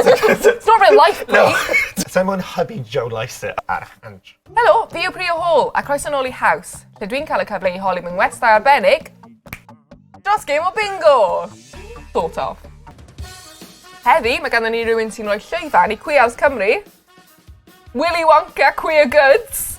It's not real life, Bri! Sai'n moyn hybu Joe Lycett ar Andrew. Helo, fi yw Bri o Hall, a croeso nôl i Haws, lle dwi'n cael y cyfle i holi mewn westai arbennig dros gêm o bingo! Sort of. Heddi, mae ganddyn ni rhywun sy'n rhoi llwyfan i Cwiaws Cymru, Willy Wonka Queer Goods!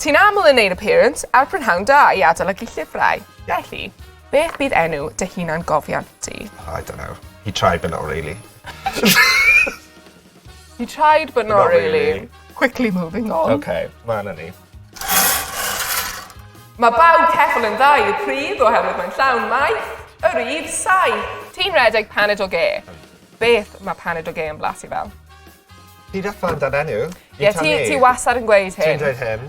Ti'n aml yn neud appearance a'r prynhawn da i adolygu llyfrau. Felly, beth bydd enw dy hunan gofiant di? I don't know. He tried but not really. He tried but not, not really. really. Quickly moving on. OK, ma' 'na ni. Mae bawb ceffyl yn dda i'r pridd oherwydd mae'n llawn maith, yr i'r saith. Ti'n redeg paned o ge. Beth mae paned o ge yn blasu fel? Ti deffro amdan enw. Ie, ti, ti wasar yn gweud hyn. Ti'n dweud hyn.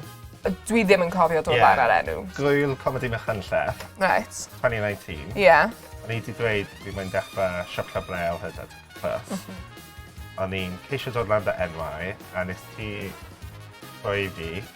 Dwi ddim yn cofio dod yeah. ar enw. Gwyl Comedi Machynlleth. Right. 2019. Ie. Yeah. O'n i wedi dweud dwi'n mynd dechrau siopio brel hyd at ffyrst. Mhm. O'n i'n ceisio dod lan dy enwau a nes ti rhoi fi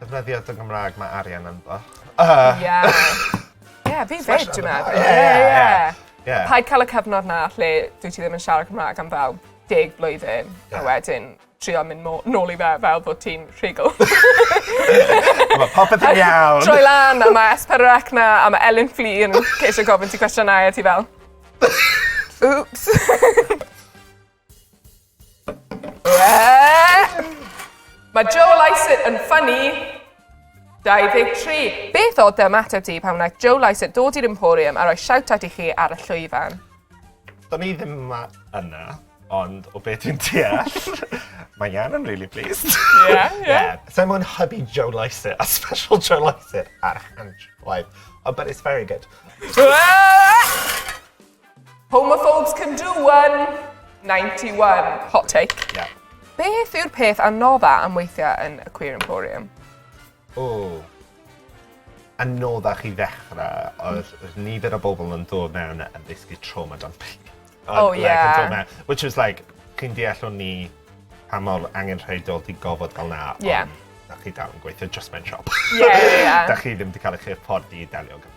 Defnyddio dy Gymraeg, mae arian ynddo. Ie. Ie, fi 'fyd, dwi'n meddwl. Ie, ie, ie. Ie. Paid cael y cyfnod 'na lle dwyt ti ddim yn siarad Cymraeg am fel deg blwyddyn, a wedyn trio mynd mo- nôl i fe fel bod ti'n rhugl. Mae popeth yn iawn. Troi lan a mae S4C ar 'na a mae Elin Flŷr yn ceisio gofyn ti cwestiynau a ti fel... Wps! Mae Joe Lycett yn ffynnu! 23. Beth oedd dy ymateb di pan wnaeth Joe Lycett dod i'r Emporium a roi shout-out i chi ar y llwyfan? Do'n i ddim yma yna, ond o be dwi'n deall, mae Ian yn really pleased. Ie, ie. Ie. Sa i'n gwbod yn hybu Joe Lycett a special Joe Lycett ar y canllaw, but it's very good. Homophobes can do one! 91. Hot take. Yeah. Beth yw'r peth anodda am weithiau yn y Queer Emporium? O. Anodda chi ddechrau oedd mm. nifer o bobl yn dod mewn a ddysgu trauma dan pryd. Oh, like, yeah. Which was like, chi'n deall o'n ni pa mor angen rhaidol di gofod gael na. Yeah. Ond, da chi dal yn gweithio just mewn siop. Yeah, yeah. da chi ddim wedi cael eich hyfforddi i delio gyda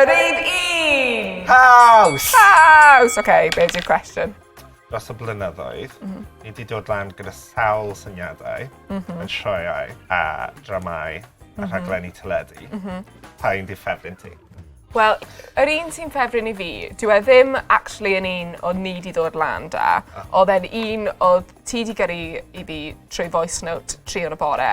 Yr un un! Haws! Haws! Oce, be di'r cwestiwn? Dros y blynyddoedd, mm -hmm. ni wedi dod lan gyda sawl syniadau mm -hmm. yn sioeau a dramau mm -hmm. a mhm. rhaglenni teledu. Mm -hmm. Pa un di ffefryn ti? Wel, yr un sy'n ffefryn i fi, dwi e ddim actually yn un o ni di ddod lan da. Ah. Oedd e'n un o ti di gyrru i fi trwy voice note tri o'r y bore.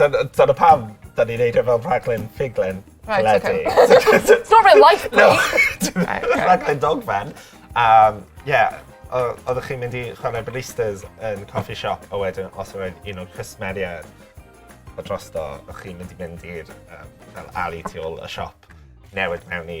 Dyna, dyna pam da ni'n neud e fel rhaglen ffuglen. Right, okay. It's not real life, no. rhaglen dogfen. Um, yeah, oeddech chi'n mynd i chwarae baristas yn coffee shop a wedyn os oedd un o'r cwsmeriaid o drosto, o'ch chi'n mynd i mynd i'r um, fel ali tu ôl y siop newid mewn i